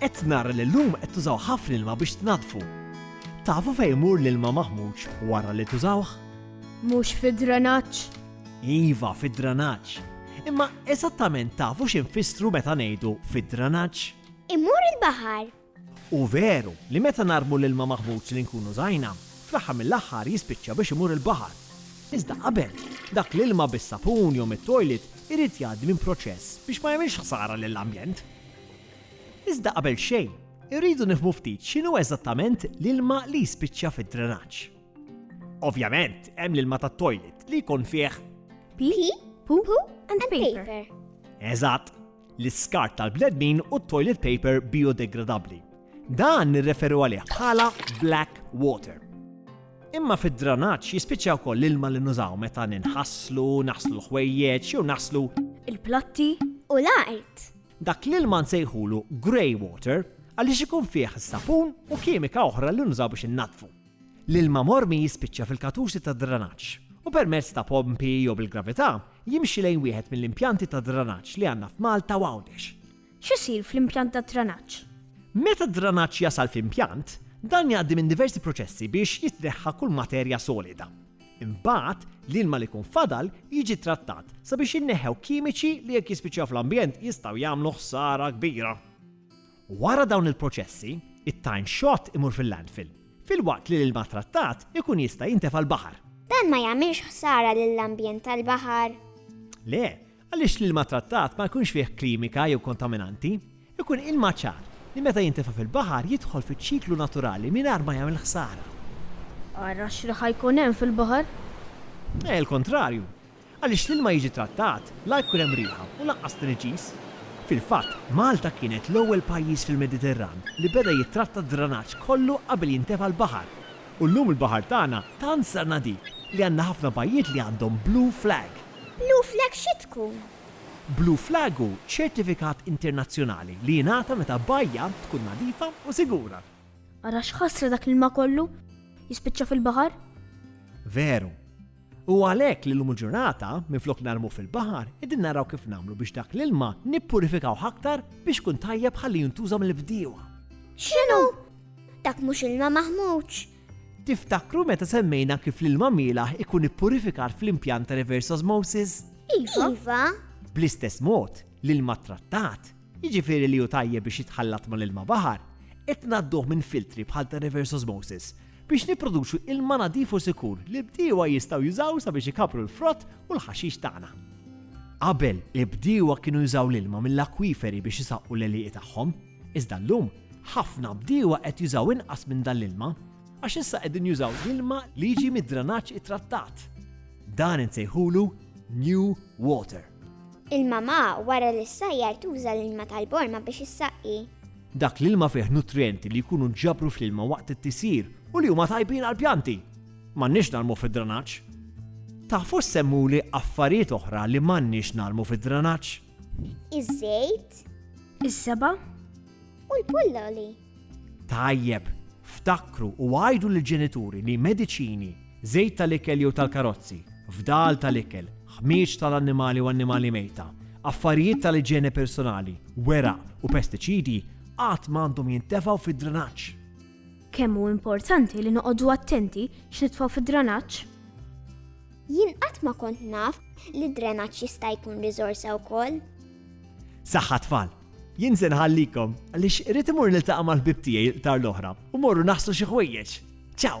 Qed nara li llum qed tużaw ħafna ilma biex tnaddfu. Tafu fejn imur l-ilma maħmuġ wara li tużawh? Mhux fid-drenaġġ? Iva, fid-drenaġġ. Imma eżattament tafu x'infissru meta ngħidu fid-drenaġġ? Imur il-baħar. Hu veru li meta narmu l-ilma maħmuġ li nkunu żajna, fl-aħħar mill-aħħar jispiċċa biex imur il-baħar. Iżda qabel, dak l-ilma bis-sapun jew mit-toilet irid jgħaddi minn proċess biex ma jagħmilx ħsara lill-ambjent. Iżda qabel xejn, irridu nifhmu ftit x'inhu eżattament l-ilma li jispiċċa fid-drenaġġ. Ovvjament, hemm l-ilma tat-toilet li jkun fih pee, poo and paper. Eżatt, l-iskart tal-bnedmin u t-toilet paper biodegradabbli. Dan nirreferu għalih bħala black water. Imma fid-dranaġġ jispiċċa wkoll l-ilma li nużaw meta ninħasslu, naħslu l-ħwejjeġ jew naħslu. Il-platti u l-art. Dak l-ilma nsejħulu grey water għaliex ikun fih is-sapun u kimika oħra li nużaw biex innaddfu. L-ilma mormi jispiċċa fil-katusi tad-dranaġġ u permezz ta' pompi jew bil-gravità jimxi lejn wieħed mill-impjanti tad-dranaġġ li għandna f'Malta u Għawdex. X'isir fl-impjant tad-dranaġġ? Meta d-dranaġġ jasal fl-impjant, dan jgħaddi minn diversi proċessi biex jitneħħa kull materja solida. Imbagħad, l-ilma li jkun fadal jiġi ttrattat sabiex jinneħħew kimiċi li jekk jispiċċaw fl-ambjent jistgħu jagħmlu ħsara kbira. Wara dawn il-proċessi, it-time shot imur fil-landfill, filwaqt li l-ilma ttrattat ikun jista' jintefa' l-baħar. Dan ma jagħmilx ħsara lill-ambjent tal-baħar? Le, Għaliex l-ilma trattat ma jkunx fih klimika jew kontaminanti? Ikun ilma ċar, li meta jintefa' fil-baħar jidħol fiċ-ċiklu naturali mingħajr ma jagħmel ħsara. Ara x'riħ ħa jkun hemm fil-baħar! Eh, il-kontrarju! Għaliex l-ilma jiġi trattat, la jkun hemm riħa u lanqas tniġġis. Fil-fatt, Malta kienet l-ewwel pajjiż fil-Mediterran li beda jittratta d-dranaġġ kollu qabel jintefa' l-baħar. U llum il-baħar tagħna tant sar nadif li għandna ħafna bajjiet li għandhom blue flag. Blue flag xi tkun? Blue flag hu ċertifikat internazzjonali li jingħata meta bajja tkun nadifa u sigura. Ara x'ħasra dak l-ilma kollu jispiċċa fil-baħar! Veru. Huwa għalhekk li llum il-ġurnata, minflok narmuh fil-baħar, qegħdin naraw kif nagħmlu biex dak l-ilma nippurifikawh aktar biex ikun tajjeb ħalli jintuża mill-bdiewa. X'inhu? Dak mhux ilma maħmuġ, Tiftakru meta semmejna kif l-ilma mielaħ ikun ippurifikat fl-impjant ta' reverse osmosis? Iva. Iva. Bl-istess mod, l-ilma ttrattat, jiġifieri li hu tajjeb biex jitħallat mal-ilma baħar, qed ngħadduh minn filtri bħal ta' reverse osmosis biex nipproduċu ilma nadif u sikur li bdiewa jistgħu jużaw sabiex ikabru l-frott u l-ħaxix tagħna. Qabel, il-bdiewa kienu jużaw l-ilma mill-akwiferi biex isaqqu l-għelieqi tagħhom. Iżda llum, ħafna bdiewa qed jużaw inqas minn dan l-ilma għax issa qegħdin jużaw l-ilma li jiġi mid-dranaġġ ittrattat. Dan insejħulu new water. Il-mamà wara li ssajjar tuża l-ilma tal-borma biex issaqqi. Dak l-ilma fih nutrijenti li jkunu nġabru fl-ilma waqt it-tisjir u li huma tajbin għall-pjanti. M'għandniex narmu fid-dranaġġ. Tafu ssemmuli affarijiet oħra li m'għandniex narmu fid-dranaġġ? Iż-żejt. Is-seba. U l-pulloli. Tajjeb, ftakru u għajdu l-ġenituri li mediċini, żejt tal-ikel jew tal-karozzi, fdal tal-ikel, ħmieġ tal-annimali u annimali mejta, affarijiet tal-iġene personali, wera u pestiċidi għad m'għandhom jintefgħu fid-drenaġġ. Kemm hu importanti li noqogħdu attenti x'nitfgħu fid-dranaġġ? Jien qatt ma kont naf li d-drenaġġ jista' jkun riżorsa wkoll. Saħħa tfal! Jien se nħallikom għaliex irid imur niltaqa' mal-ħbieb tiegħi l-qtar l-oħra u morru naħslu xi ħwejjeġ. Ciao!